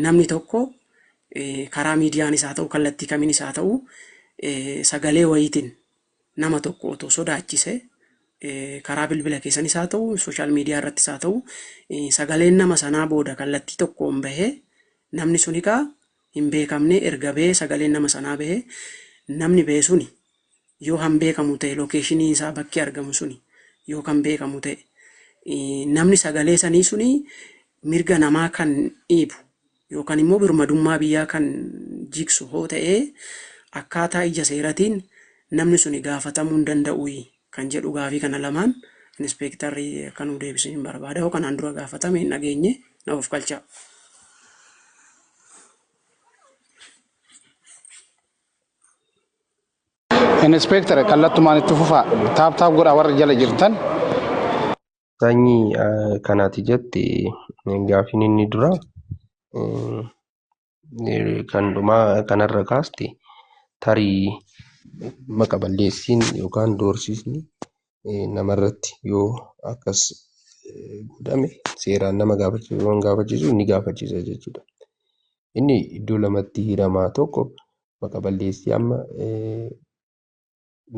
namni tokko karaa miidiyaanis haa ta'u kallattii kamiinis haa ta'u sagalee wayiitiin nama tokko otoo sodaachise karaa bilbila keessanis haa ta'u sooshaal miidiyaa irrattis haa ta'u sagaleen nama sanaa booda kallattii tokkoon bahee namni sun egaa hin beekamne erga bahee sagaleen nama sanaa bahee namni bahee suni Yoo kan beekamu ta'e lokeeshiniin isaa bakki argamu suni yoo kan beekamu ta'e namni sagalee sanii suni mirga namaa kan dhiibu yookan immoo birmadummaa biyyaa kan jigsu hoo ta'ee akkaataa ija seeratiin namni suni gaafatamuu hin danda'uyi kan jedhu gaafii kana lamaan Inispeektarri akka nuu deebisaniin barbaada hoo kanaan dura gaafatame hin dhageenye na ofkalchaa. Inspector kallattumaan itti fufaa. Taap taap godhaa warri jala jirtan. Sanyi kanati jette gaafiin inni dura kan dhumaa kanarra kaaste tarii maqa balleessiin yookaan doorsisni namarratti yoo akkas godhame seeraan nama gaafachiisu waan gaafachiisu ni gaafachiisa jechuudha. Inni iddoo lamatti hiramaa tokko maqa balleessii amma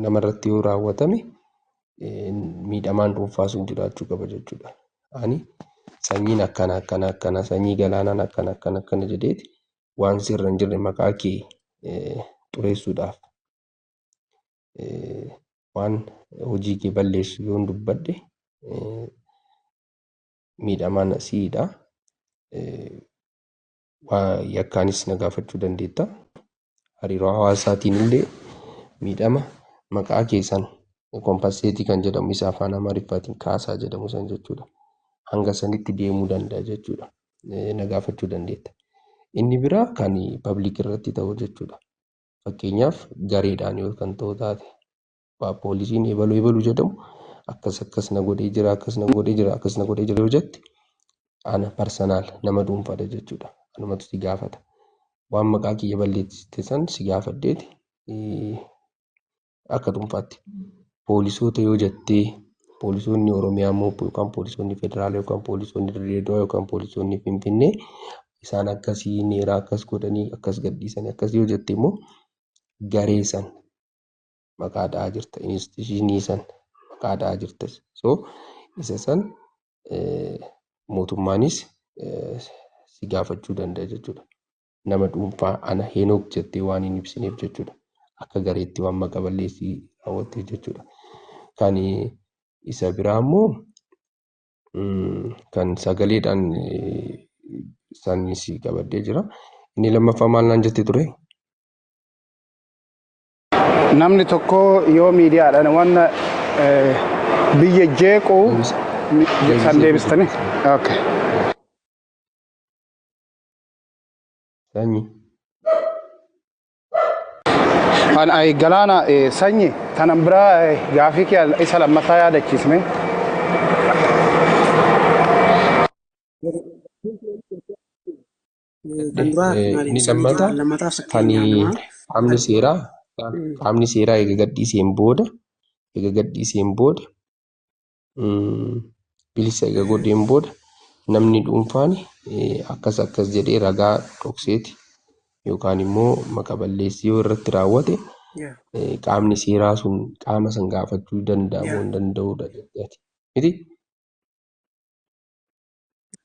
namarratti yoo raawwatame miidhamaan dhuunfaa sun jiraachuu qaba jechuudha. Ani sanyiin akkana akkana akkana sanyii galaanaan akkana akkana akkana jedheeti waan sirra hin jirre maqaa kee xureessuudhaaf waan hojii kee balleessu yoo hin dubbadhe miidhamaan siidha. waa yakkaanis na gaafachuu dandeetta. Hariiroo hawaasaatiin illee miidhama maqaa keessan kompasseetii kan jedhamu isa afaan Amaariffaatiin kaasaa jedhamu san jechuudha. Hanga sanitti deemuu danda'a jechuudha. Na gaafachuu dandeetta. Inni biraa kan pabliik irratti ta'u jechuudha. Fakkeenyaaf gareedhaan yoo kan ta'u taate abbaa poolisiin ebalu ebalu jedhamu akkas akkas na godhee jira akkas na godhee jira akkas na godhee jira yoo jette ana parsanaal nama dhuunfaadha jechuudha anumatu si gaafata waan maqaa kiyya balleessite san si gaafadheeti eh, akka dhuunfaatti poolisoota yoo jettee poolisoonni oromiyaa immoo yookaan poolisoonni federaalaa yookaan poolisoonni dirreedoo yookaan poolisoonni finfinnee isaan akkasii neeraa akkas godhanii akkas gadhiisanii akkas yoo jette immoo garee san maqaa dha'aa jirta instituushinii san maqaa dha'aa jirta so isa san mootummaanis si gaafachuu danda'a jechuudha. Nama dhuunfaa ana Henook jettee waan hin ibsineef jechuudha. Akka gareetti waan maqa balleessii raawwatteef jechuudha. Kan isa biraa immoo kan sagaleedhaan isaanii si qabadhee jira. Inni lammaffaa maal naan jette ture? Namni tokko yoo miidiyaadhaan waan eh, biyya jeequ Deebisee san deebistanii. deebisee. Okay. Sanyi. An ay galaana eh, sanyi tanan biraa eh, gaafii kee isa lammataa yaadachiisne. kan duraa Eh, maali? inni Isa biyya lammataa lammataaf kan fakkeenyaa namaa qaamni kan seeraa Mm. qaamni seeraa eega gadhiiseen booda eega gadhiiseen booda mm, bilisa eega godheen booda namni dhuunfaan eh, akkas akkas jedhee ragaa dhokseeti yookaan immoo maqa balleessii yoo irratti raawwate Yeah. eh, qaamni seeraa sun qaama san gaafachuu danda'amu Yeah. hin danda'udha jechuudha. Miti?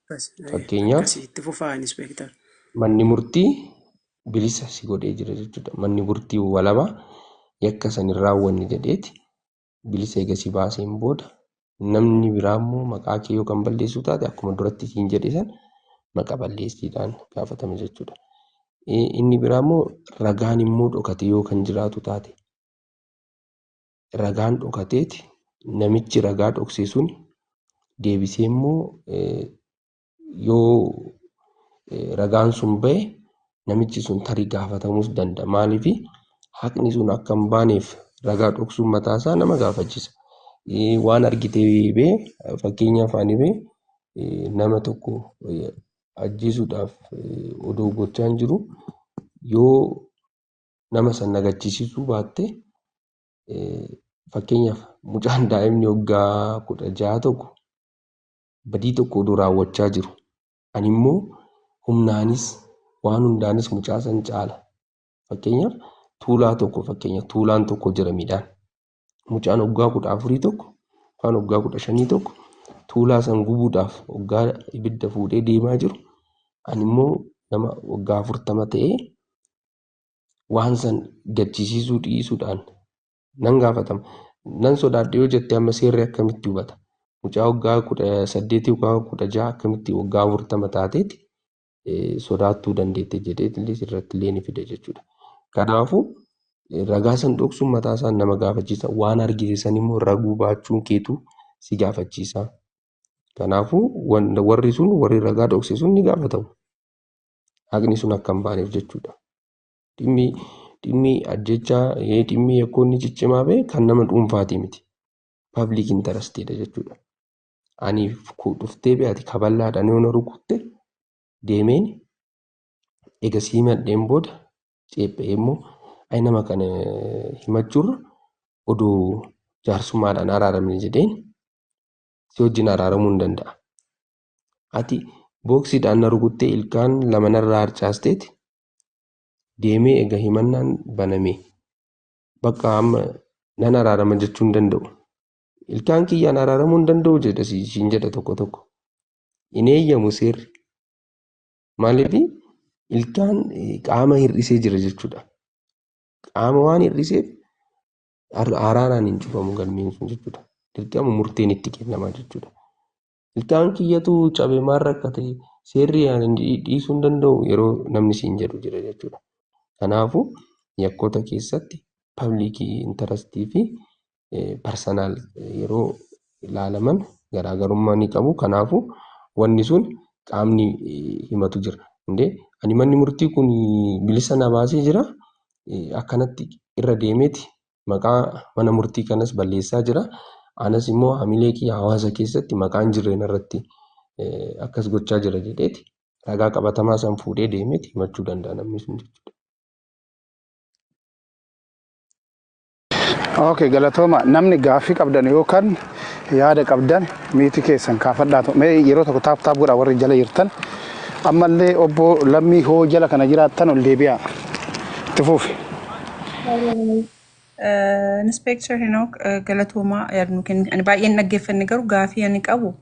Akkas, eh, Fakkeenyaaf akkasii itti fufaa inspektar. manni murtii bilisa si godhee jira jechuudha. Manni murtii walaba yakka san hin raawwanne jedheeti bilisa eega si baaseen booda namni biraa immoo maqaa kee yoo kan balleessu taate akkuma duratti siin jedhe san maqa balleessiidhaan gaafatama jechuudha. Eh, Inni biraa immoo ragaan immoo dhokate yoo kan jiraatu taate ragaan dhokateeti namichi ragaa dhoksee sun deebisee immoo yoo ragaan sun ba'e namichi sun tarii gaafatamuus danda'a. Maaliif haqni sun akka hin baaneef ragaa dhoksuun mataa isaa nama gaafachisa. Waan argite bee fakkeenyaaf ani bee nama tokko ajjeesuudhaaf odoo gochaan jiru yoo nama san nagachiisisuu baatte fakkeenyaaf mucaan daa'imni waggaa kudha ja'a tokko badii tokko oduu raawwachaa jiru ani immoo humnaanis waan hundaanis mucaa san caala fakkeenyaaf tuulaa tokko fakkeenya tuulaan tokko jira midhaan mucaan waggaa kudha afurii tokko yookaan waggaa kudha shanii tokko tuulaa san gubuudhaaf waggaa ibidda fuudhee deemaa jiru ani immoo nama waggaa afurtama ta'ee waan san gachisiisuu dhiisuudhaan nan gaafatama. Nan sodaadhe yoo jette amma seerri akkamitti hubata? Mucaa waggaa kudha saddeetii yookaan kudha jaha akkamitti waggaa afurtama taateeti sodaattuu dandeette jedhee illee irratti illee ni fida jechuudha. Kanaafuu ragaa san dhoksuun mataa isaa nama gaafachiisa. Waan argite san immoo raguu baachuun keetu si gaafachiisa. Kanaafuu warri sun warri ragaa dhokse sun ni gaafatamu. haqni sun akka hin baaneef jechuudha. Dhimmi dhimmi ajjechaa ee dhimmi yakkoonni ciccimaa bee kan nama dhuunfaatii miti. Pabliik intarastiidha jechuudha. Ani ku- dhuftee bee ati kaballaadhaan yoo na rukutte deemeen ega sii madheen booda ceephee immoo ayi nama kana himachuurra oduu jaarsummaadhaan araaramne jedheen si wajjin araaramuu hin danda'a. ati booksiidhaan na rukuttee ilkaan lama narraa harcaasteeti deemee ega himannaan baname bakka amma nan araarama jechuu hin danda'u. Ilkaan kiyyaan araaramuu hin danda'u jedha si- siin jedha tokko tokko. Hin eeyyamu seerri. Maaliif ilkaan eh, qaama hir'isee jira jechuudha. Qaama waan hir'iseef ar- araaraan hin cufamu galmeen sun jechuudha. Dirqama murteen itti kennama jechuudha. Ilkaan kiyyatu cabe maal rakkate seerri ani dhiisuu hin danda'u yeroo namni siin jedhu jira jechuudha. Kanaafuu yakkoota keessatti pabliikii intarastii fi parsanaal yeroo ilaalaman garaagarummaa ni qabu. Kanaafuu wanni sun qaamni himatu jira. Indee ani manni murtii kun bilisa na baasee jira akkanatti irra deemeeti maqaa mana murtii kanas balleessaa jira. Anas immoo hamilee kiyya hawaasa keessatti maqaan jirreen irratti akkas gochaa jira jedheeti ragaa qabatamaa san fuudhee deemeeti himachuu danda'a namni sun jechuudha. Okay, galatooma namni gaaffii qabdan yookaan yaada qabdan miitii keessan kaafadhaa mee yeroo tokko taap taap godha warri jala jirtan ammallee obbo lammii hoo jala kana jiraattan ol deebi'aa itti fuufi. Inspektar Henook galatoomaa yaada nu kenni. Ani baay'een dhaggeeffanne garuu gaafii ani qabu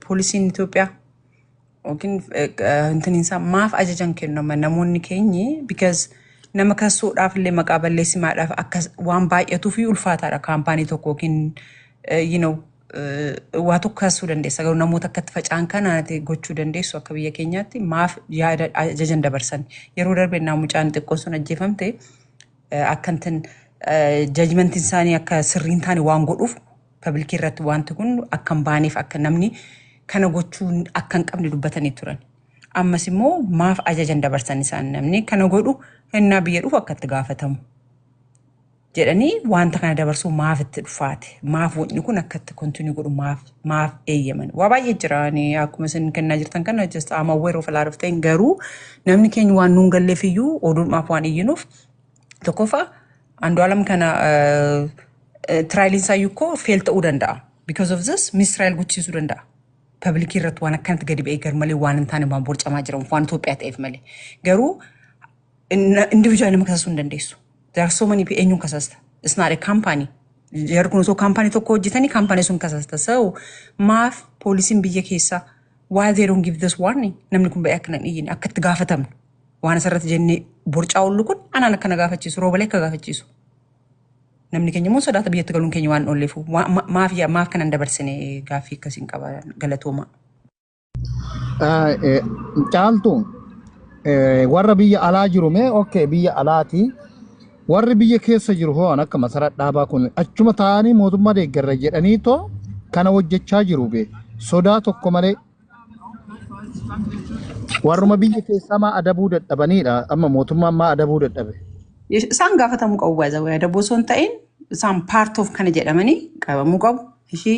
poolisiin Itoophiyaa yookiin intiniinsaa maaf ajajan kennama namoonni keenyi because nama kassuudhaaf illee maqaa balleessimaadhaaf akka waan baay'atuu fi ulfaataadha kaampaanii tokko yookiin you know eh, waa tokko kaasuu dandeessa garuu namoota akkatti faca'an kana ati gochuu dandeessu akka biyya keenyaatti maaf yaada ajajan dabarsan yeroo darbe naa mucaan xiqqoon sun ajjeefamte eh, akkantin jajmentiin isaanii akka sirrii hin taane waan godhuuf pabliikii irratti wanti kun akka hin baaneef akka namni kana gochuu akka hin qabne dubbatanii turan. Ammas immoo maaf ajajan dabarsan isaan namni kana godhu hennaa biyya dhufu akka itti gaafatamu. jedhanii wanta kana dabarsuu maaf itti dhufaate maaf wanni kun akka itti kontinuu godhu maaf maaf eeyyaman waa baay'ee jira ani akkuma isin kennaa jirtan kana just I'm aware of a lot of things garuu namni keenya waan nuun galleef iyyuu oduudhaaf waan iyyinuuf tokkoffaa andu'aalam kana tiraayiliin isaa iyyuu koo feel ta'uu danda'a because of this misiraayil gochiisuu danda'a pabilikii irratti waan akkanatti gadi ba'ee garmalee waan hin taane waan borcamaa jiran waan Itoophiyaa ta'eef malee garuu individual nama kasasuu hin dandeessu. There are so many eenyuun kasasta. It's not a company. Jarri kun osoo kaampaanii tokko hojjetanii kaampaanii sun kasasta. So maaf poolisiin biyya keessaa why they don't give this warning namni kun ba'ee akkana hin iyyine akka itti gaafatamnu waan asirratti jennee borcaa ollu kun anaan akkana gaafachiisu roobalee akka gaafachiisu. Namni keenya immoo sodaata biyyatti galuun keenya waan olleefu maaf yaa- maaf kanan dabarsine gaaffii akkasiin qaba galatoomaa. Ah, eh, Caaltu eh, warra biyya alaa jiru mee okay biyya alaati warri biyya keessa jiru hoo an akka masaraa dhaabaa kun achuma taa'anii mootummaa deeggarra jedhanii too kana hojjechaa jiru bee sodaa tokko malee warruma biyya keessaa maa adabuu dadhabaniidha amma mootummaan maa adabuu dadhabe Isaan gaafatamuu qabu baay'ee adaboo osoo hin ta'in isaan part of kana jedhamanii qabamuu qabu. Ishii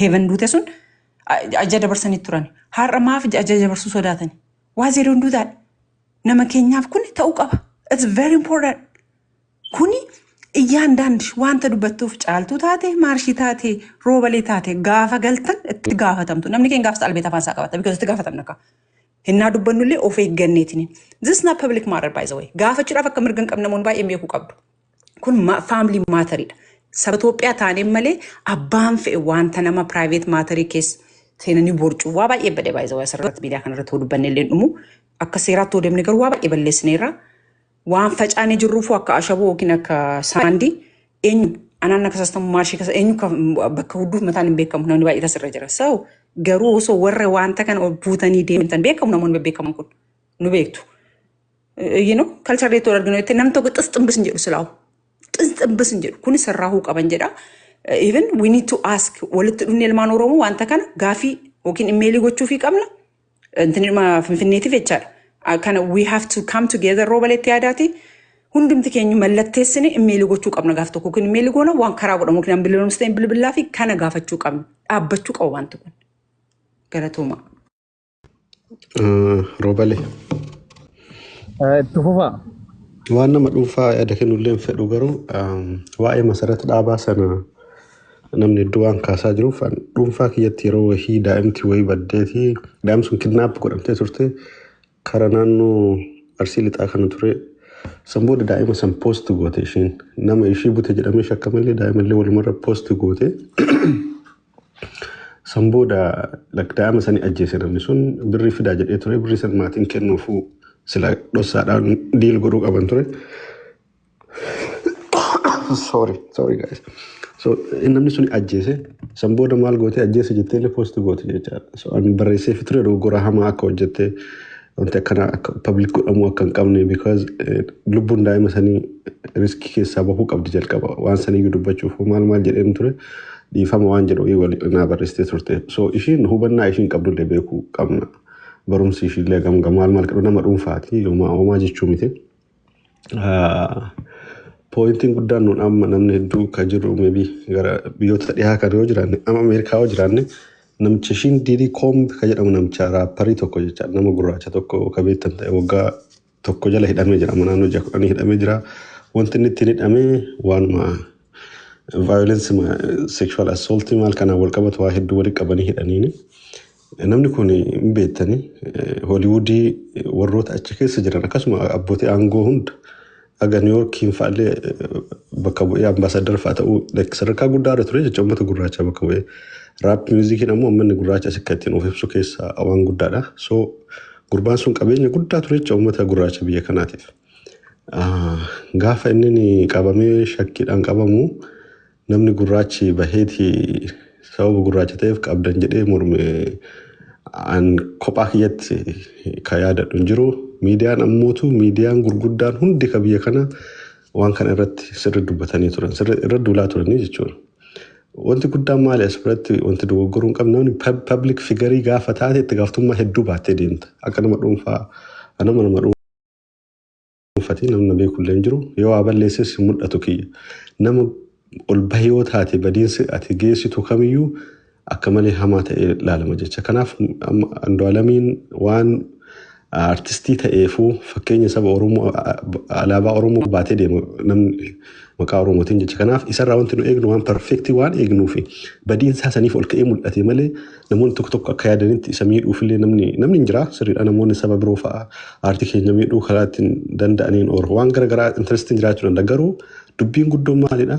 Heeven duute sun ajaja dabarsanii turan. Har'a maaf ajaja dabarsuu sodaatan? Waa zeeroon duutaadha. Nama keenyaaf kun ta'uu qaba. It's very important. Kuni iyyaan daandi wanta dubbattuuf caaltuu taate maarshii taate roobalee taate gaafa galtan itti gaafatamtu. Namni keenya gaafsa albeet afaan isaa qabata. Because itti gaafatamna kaa. Hinnaa dubbannullee of eegganneetini. This is not public matter by the way. Gaafachuudhaaf akka mirga hin qabne namoonni baay'een beekuu qabdu. kun faamilii maatariidha. Saba Itoophiyaa taaneen malee abbaan fe'e wanta nama piraayiveet maatarii keessa seenanii boorcuu waa baay'ee badee baay'ee zawaa asirratti miidiyaa kanarratti hoo dubbanne illee dhumu akka seeraatti hoo deemne garuu waa baay'ee balleessineerra. Waan facaanee jirruufuu akka ashaboo yookiin akka saandii eenyu anaan akka sastamu maashii kasa eenyu ka- bakka hudduuf mataan hin beekamu namni baay'ee tasirra jira. So garuu osoo warra wanta kana ol buutanii deemtan beekamu namoonni bebbeekaman kun. nu beektu. Iyyuu no kalcharri itti wal arginu jettee nam tokko xis ximbis hin jedhu silaawu. Xis ximbis hin jedhu kun sirraa huu qaban jedha. Even we need to ask walitti dhufni ilmaan Oromoo wanta kana gaafii yookiin immeelii gochuufii qabna. Intinima finfinneetiif jechaadha. Ah, Kana we have to come together rooba leetti yaadaati. Hundumti keenya mallatteessine immeelii gochuu qabna gaaf tokko yookiin immeelii goona waan karaa godhamu yookiin an bilbilamsi ta'e bilbilaa fi kana gaafachuu qabna. Dhaabbachuu qaba wanti kun. Galatoomaa. Roobale. Itti fufaa. Waan nama dhuunfaa yaada kennullee hin fedhu garuu waa'ee masarata dhaabaa sana namni iddoo waan kaasaa jiruuf dhuunfaa kiyyatti yeroo wahii daa'imti wahii baddeeti daa'im sun kidnaap godhamtee turte kara naannoo arsii lixaa kana ture san booda daa'ima san poosti goote ishiin nama ishii bute jedhamee shakkamallee daa'ima illee walumarra poosti goote San booda lakdaa'ama sani ajjeese namni sun birrii fidaa jedhee ture birrii san maatiin kennuufuu sila dhossaadhaan diil godhuu qaban ture. sorry sorry guys. So namni sun ajjeese san booda maal gootee ajjeese jettee illee poosti goote jechaadha. So ani barreesseefi ture dogoggora hamaa akka hojjette Wanti akkana akka public godhamuu akka hin qabne because eh, lubbuun daa'ima sanii riskii keessaa bahuu qabdi jalqaba waan saniyyuu dubbachuuf hoo maal maal jedheen ture dhiifama waan jedhu wayii wal naa barreessitee turte so ishiin hubannaa ishiin qabdullee beekuu qabna barumsi ishiillee gamga maal maal qabdu nama dhuunfaati yooma homaa jechuu miti Pooyintiin guddaan nuun amma namni hedduu ka jiru maybe gara biyyoota dhihaa kan yoo jiraanne amma Ameerikaa yoo jiraanne namicha ishiin diidii koombi ka jedhamu namicha raapparii tokko jecha nama gurraacha tokko ka beektan ta'e waggaa tokko jala hidhamee jira amma naannoo ja'a kudhanii hidhamee jira wanti inni ittiin hidhame waanuma vaayolensi sekshuwaal assooltii maal kanaan wal qabatu waa hedduu walitti qabanii hidhaniini. Namni kun hin beektanii Hooliwuudii warroota achi keessa jiran akkasuma abbootii aangoo hunda haga Niiwoorkiin fa'allee bakka bu'ee ambaasaaddara fa'a ta'uu like sadarkaa guddaa irra ture jecha uummata gurraachaa bakka bu'ee. Raap miizikiin ammoo uummanni gurraacha as akka ittiin of ibsu keessaa waan guddaadha. So gurbaan sun qabeenya guddaa ture jecha uummata gurraacha biyya kanaatiif. Ah, Gaafa inni qabamee shakkiidhaan qabamu Namni gurraachi baheeti sababa gurraacha ta'eef qabdan jedhee morme an kophaa kiyyatti ka yaadadhu hin jiru. Miidiyaan ammootu miidiyaan gurguddaan hundi ka biyya kana waan kana irratti sirri dubbatanii turan sirri irra duulaa turanii jechuudha. Wanti guddaan maali as biratti wanti dogoggoruu hin qabne namni pub- public figarii gaafa taate itti gaaftummaa hedduu baattee deemta akka nama dhuunfaa nama nama dhuunfaa. dhuunfati namni na beekullee hin jiru yoo waa balleesses hin mul'atu kiyya nama ol bahee yoo taate badiinsi ati geessitu kamiyyuu akka malee hamaa ta'ee laalama jecha kanaaf amma Andu'aalamiin waan artistii ta'eefuu fakkeenya saba Oromoo alaabaa Oromoo baatee deema namni Maqaa Oromootiin jecha kanaaf isarraa wanti nu eegnu waan perfektii waan eegnuufi badiin isaa saniif ol ka'ee mul'ate malee namoonni tokko tokko akka yaadanitti isa miidhuufillee namni namni hin jira sirriidha namoonni saba biroo fa'a aartii keenya miidhuu karaa ittiin danda'aniin or waan gara garaa intarestiin jiraachuu danda'a garuu dubbiin guddoon maalidha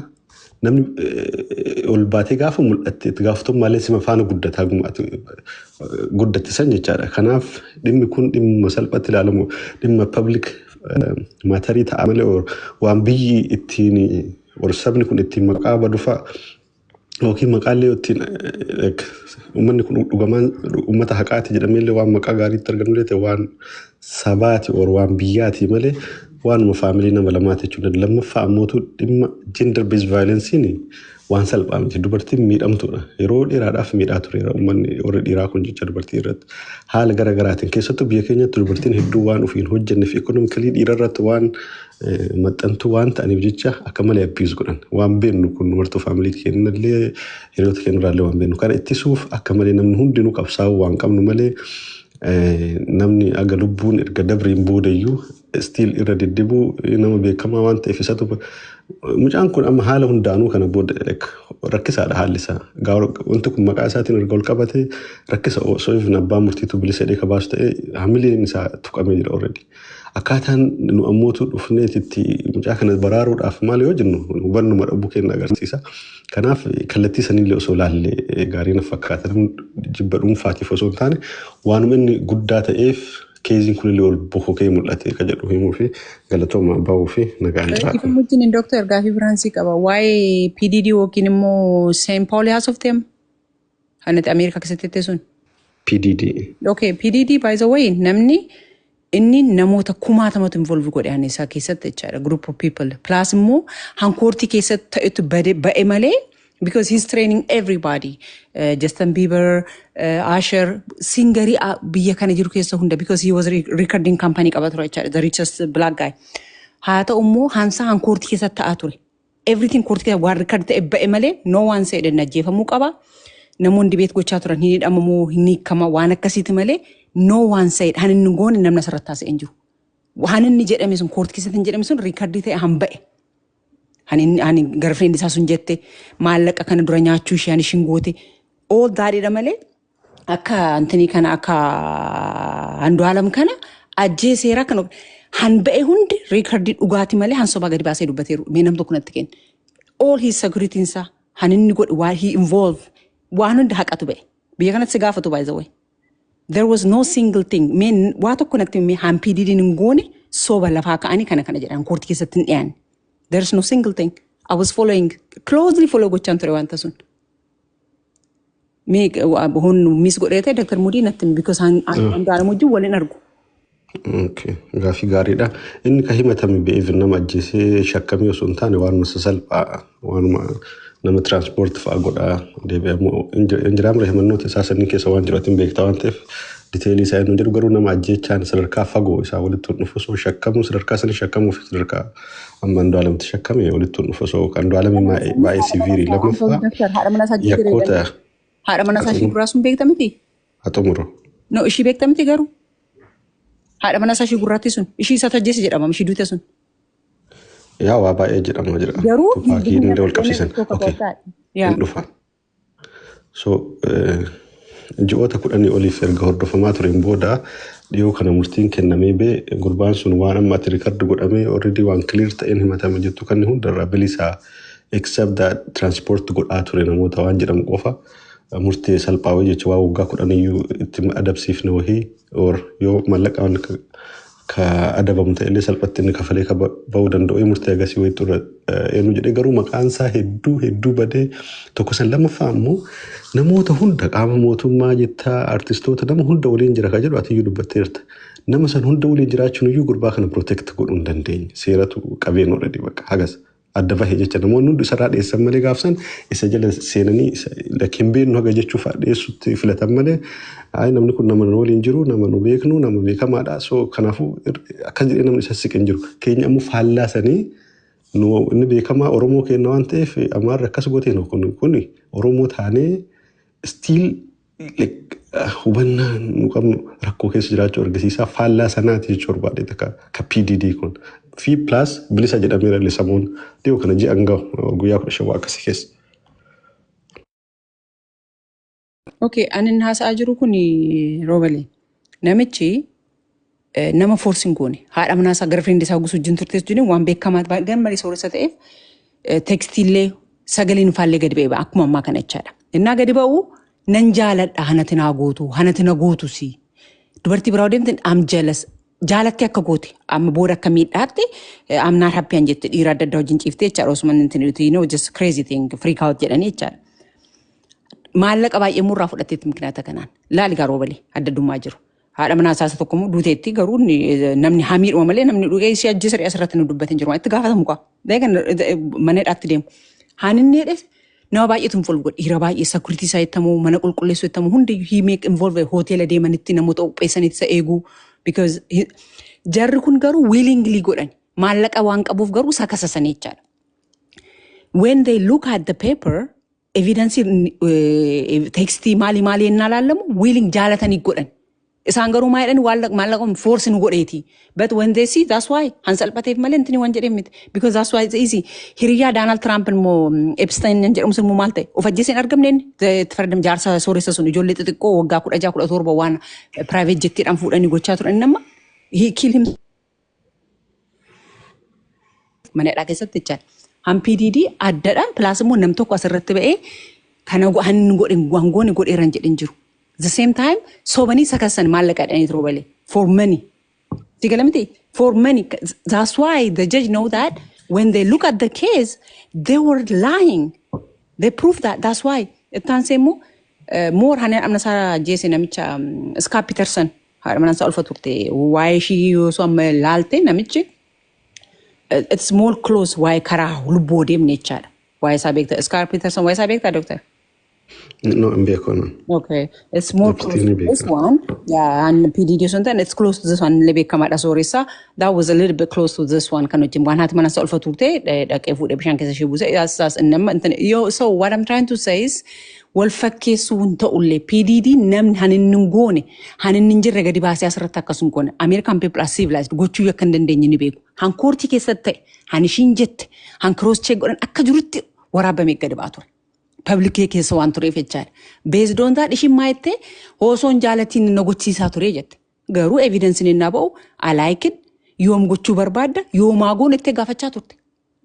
namni eh, ol baatee gaafa mul'atte itti gaafatamummaan sima faana guddataa gumaati guddatte san jechaadha kanaaf dhimmi kun dhimma salphatti ilaalamu dhimma public maatarii ta'a malee or waan biyyi ittiin or sabni kun ittiin maqaa badufaa yookiin maqaallee ittiin like, uummanni kun dhugamaan uummata haqaati jedhameellee waan maqaa gaariitti argamullee ta'e waan sabaati or waan biyyaati malee waanuma faamilii nama lamaati jechuudha. Lammaffaa ammootu dhimma gender based violence'n Waan salphaa miti. Dubartiin miidhamtuudha. Yeroo dheeraadhaaf miidhaa tureera uummanni warri dhiiraa kun jecha dubartii irratti. Haala gara garaatiin keessattuu biyya keenyatti dubartiin hedduu waan ofiin hojjenneef ekonomikalii dhiira irratti waan maxxantuu waan ta'aniif jecha akka malee abbiiz godhan. Waan beennu kun dumartuu faamilii keenyallee hiriyoota keenyarraallee waan beennu. Kana ittisuuf akka malee namni hundinuu qabsaa'uu waan qabnu malee namni aga lubbuun erga dabreen boodayyuu still irra deddebu nama beekamaa waan ta'eef isatu mucaan kun amma haala hundaanuu kana booda like rakkisaadha haalli isaa gaara wanti kun maqaa isaatiin erga ol qabate rakkisa osoo hin abbaa murtiitu bilisa jedhee kabaasu ta'e hamileen isaa tuqamee jira already akkaataan nu ammootu dhufneetitti mucaa kana baraaruudhaaf maal yoo jennu hubannuma dhabuu keenya agarsiisa kanaaf kallattii sanillee osoo laallee gaarii na fakkaata jibba dhuunfaatiif osoo hin taane waanuma inni guddaa ta'eef Keeziin kunillee ol bokokee mul'ate ka jedhu himuufi galatooma bahuufi nagaan jiraadha. Dhiifama wajjin Dooktar gaafii biraan sii qaba. Waa'ee PDD yookiin immoo Seen Paawulii haasofteem? Kan ati Ameerikaa keessatti jettee sun. PDD. Okay, PDD by the way namni inni namoota kumaatamatu involve godhe ani isaa keessatti jechaadha group of people plus immoo hankoortii keessatti ta'etu bade ba'e malee because he's training everybody uh, Justin Bieber uh, Usher singarii uh, biyya kana jiru keessa hunda because he was re recording company qaba ture jechaadha the richest black guy haa ta'u immoo hansa han koorti keessa ta'aa ture everything koorti keessa waan record ta'e ba'e malee no one said hin ajjeefamuu qaba namoonni dibeet gochaa turan hin hidhamamoo hin hiikama waan akkasiiti malee no one said han inni goone namna sarratti haasa'e hin jiru waan inni jedhame sun koorti keessatti hin jedhame sun recordii ta'e han ba'e Kan inni ani garfreen isaa sun jette maallaqa kana dura nyaachuu ishee ani ishin goote all daadhiidha malee akka antanii kana akka handu'aalam kana ajjee seeraa kan of- han ba'e hundi riikardii dhugaati malee han sobaa gadi baasee dubbateeru mee nam tokko natti kenna. All his security isaa han inni godhe waan he involve waan hundi haqatu ba'e. Biyya kanatti si gaafatu by the way. There was no single thing. Mee n- waa tokko natti himi haan PDDn hin goone soba lafaa ka'anii kana kana jedhan koortii keessatti hin dhiyaanne. There is no single thing. I was following, closely follow gochaan ture wanta sun. Mee hon miis godhee ta'e Dr. Mudii natti himi because hang- hang- hangaaramu wajjin wal hin argu. Gaaffii gaariidha. Inni kan himatame be'eef nama ajjeesee shakkamee osoo hin taane waanuma sasalphaa waanuma nama tiraanspoorti fa'aa godhaa deebi'amoo hin jiraamre himannoota isaa sanii keessa waan jiru atiin beektaa waan ta'eef diteelii isaa hin jiru garuu nama ajjeechaan sadarkaa fagoo isaa walitti hin dhufu osoo shakkamuu sadarkaa sanii shakkamuu fi sadarkaa amma Andu'aalamti shakkame walitti hin dhufu osoo Andu'aalami baay'ee siviirii lammaffaa yakkoota haadha mana isaa ishee duraa sun beekta miti? haa xumuru. No ishii beekta miti garuu haadha mana isaa ishii gurraattii sun ishii isa tajjeese jedhama ishii duute sun. Yaa waa baay'ee jedhama jira. Garuu Tupaakii hin hunda wal qabsiisan. tokko Okay. tokko yaa Hin dhufa. So eh, ji'oota kudhanii oliif erga hordofamaa tureen booda dhiyoo kana murtiin kennamee bee gurbaan sun waan amma ati rikardi godhamee already waan clear ta'een himatame jettu kan hundarraa bilisaa except that transport godhaa ture namoota waan jedhamu qofa murtee salphaa wayii jechuun waa waggaa kudhan iyyuu itti adabsiifne wayii or yoo mallaqaan ka adabamu ta'ellee salphatti inni kafalee ka ba'uu danda'u murtee agasii wayii xurra eenyu jedhee garuu maqaan isaa hedduu hedduu badee tokko san lammaffaa ammoo namoota hunda qaama mootummaa jettaa artistoota nama hunda waliin jira ka jedhu atiyyuu dubbatteerta. Nama san hunda waliin jiraachuun iyyuu gurbaa kana protect godhuu hin dandeenye seeratu qabeen already bakka hagas. adda bahe jecha namoonni hundi isarraa dheessan malee gaafsan isa jala seenanii lakkin beeknu haga jechuuf dheessutti filatan malee ayi namni kun nama nu waliin jiru nama nu beeknu nama beekamaadha so kanaafuu akkas jedhee namni isa siqin jiru keenya ammoo faallaa sanii nu inni beekamaa oromoo keenya waan ta'eef amaarri akkas gootee kun kun oromoo taanee stiil like, ah, hubannaa nu qabnu rakkoo keessa jiraachuu argisiisaa faallaa sanaati jechuu barbaade takka ka PDD kun fi plus bilisa jedhameera illee samuun dhiyoo kana ji'an gahu uh, guyyaa kudha shan waa akkasii keessa. Okay, anin haasa'aa jiru kun roobale. Namichi nama force hin goone. Haadha manaa isaa girlfriend isaa gusu wajjin turte jechuun waan beekamaa ta'e gan malee sooressa ta'eef tekstiillee sagaleen faallee gadi ba'e akkuma ammaa kana jechaadha. Innaa gadi ba'u nan jaaladha hanati naa gootu hanati na gootu si. Dubartii biraa deemte am jealous jaalatti akka goote amma booda akka miidhaatte am not happy an jette dhiira adda addaa wajjin ciifte jechaadha osuma inni hin you know just crazy thing freak out jedhanii jechaadha. Maallaqa baay'ee murraa fudhatteetti mikinaata kanaan laali gaaroo balee adda addummaa jiru. Haadha manaa isaa isa tokko immoo duuteetti garuu inni, eh, namni hamiidhuma malee namni dhugee ishee ajjeese dhiyaas irratti nu dubbatin jiru. Itti gaafatamu kaa. Deegan mana hidhaatti deemu. Haan inni hidhes nama baay'eetu involve godhe. Dhiira baay'ee security isaa ittamu, mana qulqulleessuu ittamu hundi he make involve hoteela deemanitti namoota qopheessanitti isa eeguu. Because he- jarri kun garuu willingly godhan. Maallaqa waan qabuuf garuu sakasasanii jechaadha. When they look at the paper, evidensii teekstii maali maali yennaa laallamu wiiling jaalatanii godhan. Isaan garuu maa jedhan waan maallaqa foorsi nu godheeti. But when they see that's why han salphateef malee intini waan jedhee miti. Because that's why it's easy. Hiriyaa Daanaald Tiraamp immoo Epstein hin jedhamu sun immoo maal ta'e? Of ajjeesee hin argamne inni. Itti fayyadam jaarsa sooressa sun ijoollee xixiqqoo waggaa kudha jaha kudha torba waan private jettiidhaan fuudhanii gochaa turan inni amma he kill him mana hidhaa keessatti jechaan hampii diidii addadhaan pilaas immoo nam tokko asirratti ba'ee kana go- han godhin wangooni godheeran jedhin jiru. The same time sobanii sakassan maallaqa dhanii turuu balee for money. Si gala miti for money. That's why the judge know that when they look at the case they were lying. They proved that. That's why ittaan seemmoo moor haneen amna isaa jeese namicha Scott Peterson. haadha manaa isaa ulfa turte waa'ee ishii yoo osoo amma laalte namichi eh, it's more close waa'ee karaa lubbuu odeemne jechaadha waa'ee isaa beekta iskaar piiterson waa'ee isaa beekta doktar No, hin beeku anan. Okay, it's more Achitti close ni to this beeku. one. Yeah, and PDD or something. It's close to this one. Lebe kama da sorisa. That was a little bit close to this one. Kanu jim wanhat mana solfa turte. Da ke fude bishan kesa shibuze. Yes, yes. And nam. Yo, so what I'm trying to say is, wal fakkeessuu hin ta'ullee PDD namni han inni hin goone han inni hin jirre gadi baasee asirratti akkas hin goone American people are civilized gochuu akka hin dandeenye ni beeku han koortii keessatti ta'e han ishiin jette han cross check godhan akka jirutti waraabamee gadi ba'aa ture. Publikee keessa waan tureef jechaadha. Beesdoontaa dhishin maayettee hoosoon jaalatiin na gochiisaa ture jette. Garuu evidensin ennaa ba'u alaayikin yoom gochuu barbaadda yoomaa goon itti gaafachaa turte.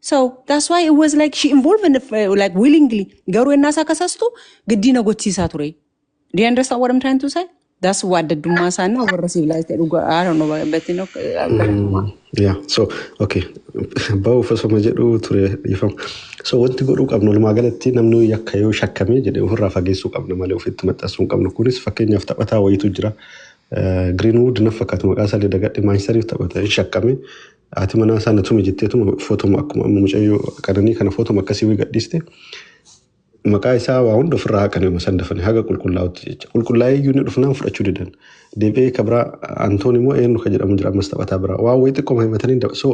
So that's why it was like she involved in the, uh, like willingly. Garuu ennaa isaa kasastu giddii na gochiisaa ture. Do you understand what I'm trying to say? That's why addaddummaa isaanii warra civilized dhugaa I don't know but you know, uh, Yeah, so okay. Bahuuf osoma jedhuu ture dhiifama. So wanti godhuu qabnu walumaa galatti namni yakka yoo shakkamee jedhee ofirraa fageessuu qabna malee ofitti maxxansuu hin qabnu. Kunis fakkeenyaaf taphataa wayiitu jira. Greenwood na fakkaatu maqaa isaa dagadhe Maanchesteriif taphata hin shakkame. Haati manaa isaa na tume jetteetuma footoma akkuma amma mucayyoo qananii kana footoma akkasii wayii gadhiiste. Maqaa isaa waa hunda ofirraa haqan yooma san dafanii haga qulqullaa'utti jecha. Qulqullaa'ee iyyuu inni dhufnaan fudhachuu didan. Deebi'ee ka biraa Antoon immoo eenyu ka jedhamu jira ammas taphataa biraa. Waa wayii xiqqooma himatanii daba. So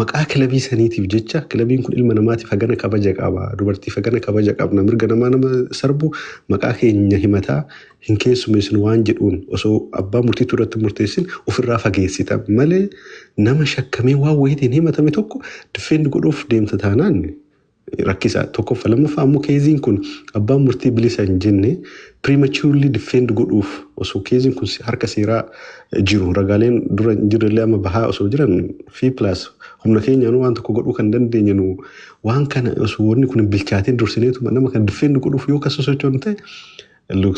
maqaa kilabii saniitiif jecha kilabiin kun ilma namaatiif hagana kabaja qaba. Dubartiif hagana kabaja qabna. Mirga namaa nama sarbu maqaa keenya himataa hin keessumeessinu waan jedhuun osoo abbaa murtiitu irratti hin murteessin ofirraa fageessita malee nama shakkamee waan wayiitiin himatame tokko diffeendi godhuuf deemta taanaan rakkisaa tokkoffa lammaffaa ammoo keeziin kun abbaan murtii bilisa hin jenne prematurely defend godhuuf osoo keeziin kun harka seeraa jiru ragaaleen dura hin jirrellee amma bahaa osoo jiran fi plus humna keenyaanuu waan tokko godhuu kan dandeenye nu waan kana osoo wanni kun hin bilchaatiin dursineetuma nama kan defend godhuuf yoo kan sosochoonu ta'e looks